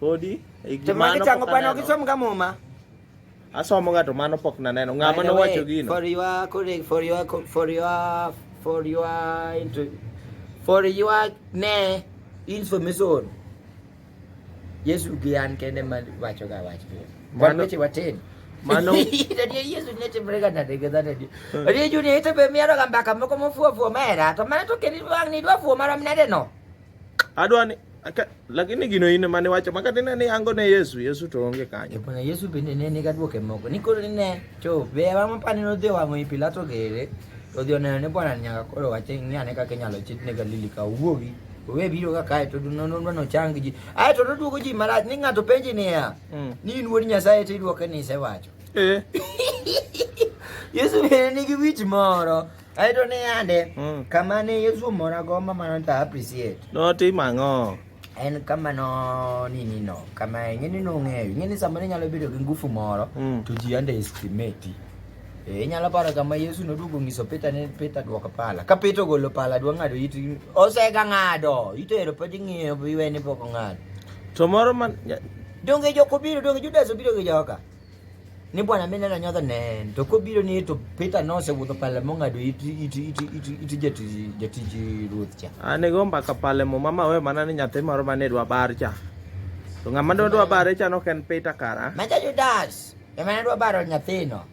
Podi e gimano. To magi chango pa no kisom ga muma. Asomo ga to mano pok naneno. Ng'ama nowacho gino. For your colleague, for your for your for your for your ne information. Yesu gi an kende ma wacho ga wach. Wan weche watin. Mano. Tadi Yesu ne timre ga nade ga nade. Tadi juni ito be miaro ga mbaka moko mofuo fuo mera. To mano to keni wang ni dwa fuo mara mnade no. Adwa ni lakini gino in mane wacho maka tine ni yango ne Yesu Yesu to onge kanyo. Bwana Yesu bende ne ni gadwoke moko. Ni koro ne to be wa mapani no dhi wango Pilato gere. To dhi oneno ne Bwana nyaka koro wache ni ane kaka inyalo chit ne Galili ka wuogi. Owe biro ka kae to no no no chang ji. Ai to duogo ji marach ni ng'ato penji niya. Mm. Ni in wuod Nyasaye to idwoke ni isewacho. Eh. Yesu bende nigi wich moro. Ai to ne yande mm. kama ne Yesu mora go mama no ta appreciate. No ti mango. En kama no ni ni no. Kama ngene no ng'eyo. Ngene sama ne nyalo bedo gi ngufu moro mm. to ji ande estimate. Eh, inyalo paro kama Yesu noduogo nyiso Peter ni Peter duoko pala. Ka Peter ogolo pala dwa ng'ado it osega ng'ado. Itero pod ing'iyo iwe ni pok ong'ado. To moro man donge joko biro donge Judas obiro gi joka. ni bwana mimi nenda nyotho ne to ko biro ni to pita no se wuto pale monga do iti iti iti iti iti jeti jeti ji ruth cha ane gomba ka pale mo mama we mana ni nyathi moro mane dwa bar cha to ngama do dwa bar cha no ken pita kara ma ja judas e mana dwa baro nyathino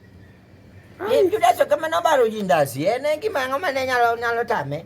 e judas o kama no baro jindas ene gima ngama ne nyalo nyalo tame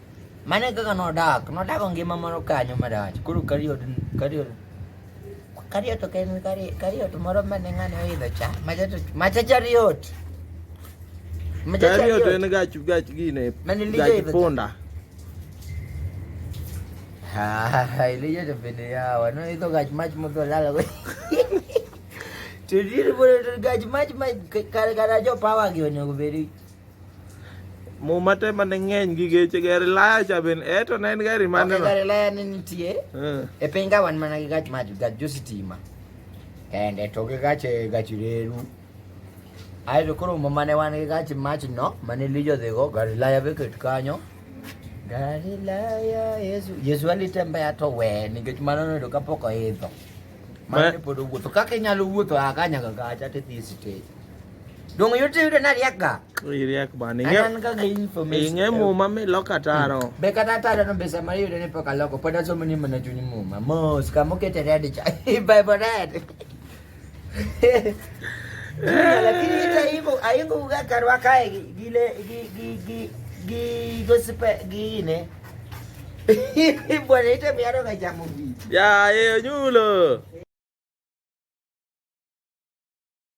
Mane kaka nodak, nodak ngima moro kanyo marach. Koro Kariot, Kariot, Kariot ok en Kariot, Kariot moro mane ng'ane oidho cha, machacha, machacha Riot. Machacha Kariot en Riot. gach gach gine, Mane Lija gach idho- punda. Ah, Elijah to bende yawa, noidho gach mach modho lala go. To diri bore to gach mach mach kare kare jo power gi onego bedi. Muma te mane ng'eny gi geche gari laya cha ben e to ne en gari mane okay, gari laya ne nitie uh. e piny ka wan mana gi gach mach gach jo sitima kende to gi gach eh, gach reru ae to koro muma ne wan gi gach mach no mane lijo dhigo gari laya be ket kanyo gari laya yesu yesu alitembea to we nikech mano noyudo kapok oidho Mane pod owuotho kaka inyalo wuotho a kanya ga kacha to dhi stage. Dong yote yudo na riak ga. Riak bani. An ga ga information. Inge muma mi loka taro. Hmm. Be kata taro no be sama yudo ne poka loko pod aso mani mana chuny muma. Mos ka mo kete red cha. Bye bye red. Lakini ita hivyo aingo ga karwa kae gile gi gi gi gi gosipe gi ne. Bwana ita miaro ka chamo bi. Ya, eh, nyulo.